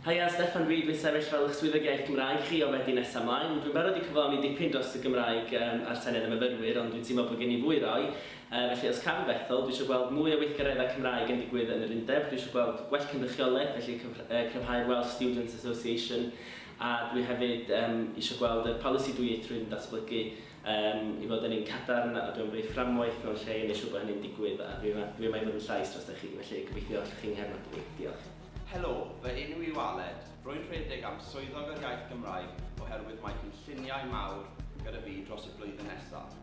Haia, Steffan Reid fi'n sefyll fel eich Swyddog Iaith Gymraeg chi o Fedi nesa mlaen. Dwi'n barod i cyflawni dipyn dros y Gymraeg um, a'r Senedd y Myfyrwyr, ond dwi'n teimlo bod gen i fwy roi. Uh, felly os cam fethol, dwi eisiau gweld mwy o weithgareddau Cymraeg yn digwydd yn yr undeb, dwi eisiau gweld gwell cynrychiolaeth, felly cryfhau'r Welsh Students Association, a dwi hefyd um, eisiau gweld y polisi dwyieithrwydd yn datblygu. Am ei fod yn un cadarn, a dw i'n brif fframwaith mewn lle i wneud siŵr bod hynny'n digwydd, a dw i dw i yma i fod yn llais drostoch chi, felly gobeithio allwch chi 'nghefnogi fi. Diolch. Helo, fy enw yw Aled. Rwy'n rhedeg am Swyddog yr Iaith Gymraeg oherwydd mae cynlluniau mawr gyda fi dros y blwyddyn nesaf.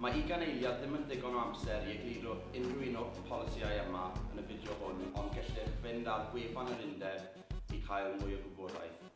Mae ugain eiliad ddim yn ddigon o amser i egluro unrhyw un o'r polisïau yma yn y fideo hwn ond gellid fynd ar wefan yr Undeb i cael mwy o gwybodaeth.